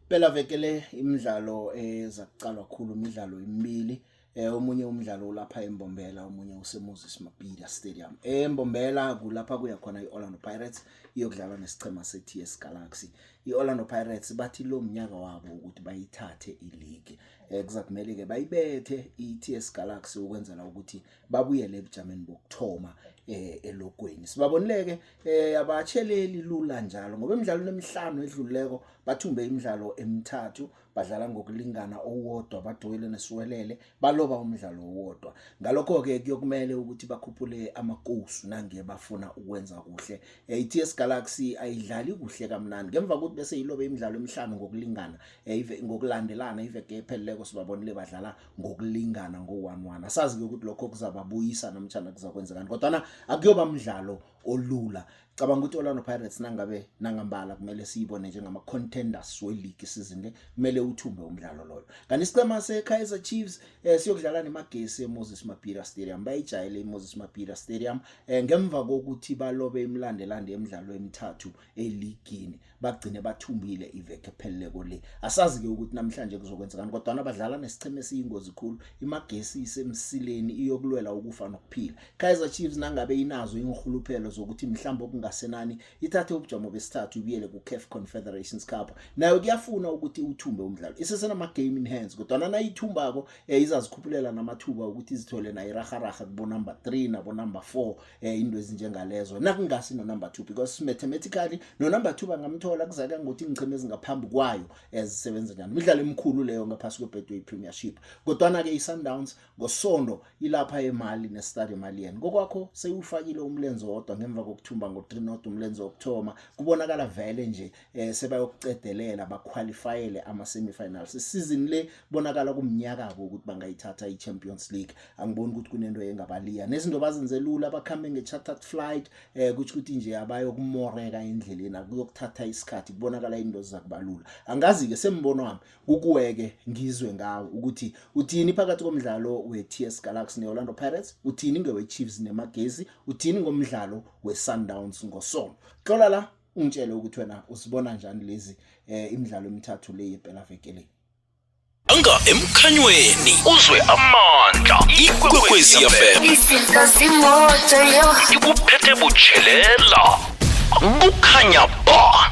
Phela veke le imidlalo eza kuqalwa khulu imidlalo emibili eh omunye umdlalo ulapha eMbombela omunye useMoses Mabhida Stadium eMbombela kulapha kuya khona iOrlando Pirates iyokudlala nesichema seTS Galaxy iOrlando Pirates bathi lo mnyaka wabo ukuthi bayithathe ileague eh kuzakumele ke bayibethe iTS Galaxy ukwenzela ukuthi babuyele ebujameni bokuthoma eh, elogweni sibabonileke eh, abatsheleli lula njalo ngoba emidlalweni emihlanu edlululeko bathumbe imidlalo emithathu badlala ngokulingana owodwa badoyile nesiwelele baloba umdlalo owodwa ngalokho-ke kuyokumele ukuthi bakhuphule amakosu nange bafuna ukwenza kuhle eh, i-ts galaxy ayidlali kuhle kamnandi ngemva kokuthi bese yilobe imidlalo emihlanu ngokulingana ngokulandelana iveke epheleleko sibabonile badlala ngokulingana ngo-one-one asazi-ke ukuthi lokho kuzababuyisa namtshana kuzakwenzekani kodwana akuyoba mdlalo olula cabanga ukuthi i-orlando pirates nangabe nangambala kumele siyibone njengama-contenders weligi isizini le kumele uthumbe umdlalo loyo kanti isicema se-kaizer chiefs um siyokudlala nemagesi emoses mapira stadium bayijayele imoses mapira stadium um ngemva kokuthi balobe imilandelande emidlalo emithathu eligini bagcine bathumbile iveke epheleleko le asazi ke ukuthi namhlanje kuzokwenzekani kodwa abadlala nesicheme esiyingozi khulu imagesi isemsileni iyokulwela ukufa nokuphila Kaizer Chiefs nangabe inazo inhuluphelo zokuthi mhlawumbe okungasenani ithathe ubujamo besithathu ibuyele ku CAF Confederations Cup nayo kuyafuna ukuthi uthumbe umdlalo isesenama game in hands kodwa nayithumbako eh, izazikhuphulela namathuba ukuthi izithole nayo iraharaha kubo number 3 nabo number 4 eh into ezinjengalezo nakungasi no number 2 because mathematically no number 2 bangamthola kuzaka ngokuthi ingcheme ezingaphambi kwayo ezisebenza njani imidlalo emikhulu leyo ngaphasi kweBetway Premiership kodwa na ke iSundowns ngosonto ilapha eMali neStade Malien kokwakho seyufakile umlenze wodwa ngemva kokuthumba ngo3 not umlenze wokuthoma kubonakala vele nje eh sebayokucedelela baqualifyele ama semifinals isizini le bonakala kumnyaka abo ukuthi bangayithatha iChampions League angiboni ukuthi kunento engabaliya nezinto bazenze lula bakhambe ngechartered flight eh kuthi ukuthi nje abayo kumoreka endleleni akuyokuthatha isikhathi kubonakala into zakubalula angazi ke sembono wami ukuweke ngizwe ngawo ukuthi uthini phakathi komdlalo weTS Galaxy neOrlando Pirates uthini ngeweChiefs neMagesi uthini ngomdlalo weSundowns ngosonto xola la ungitshele ukuthi wena usibona njani lezi eh, imidlalo emithathu le yebhela veke le anga emkhanyweni uzwe amandla ikwekwezi yafem izinto zimoto yo ikuphethe butshelela kukhanya ba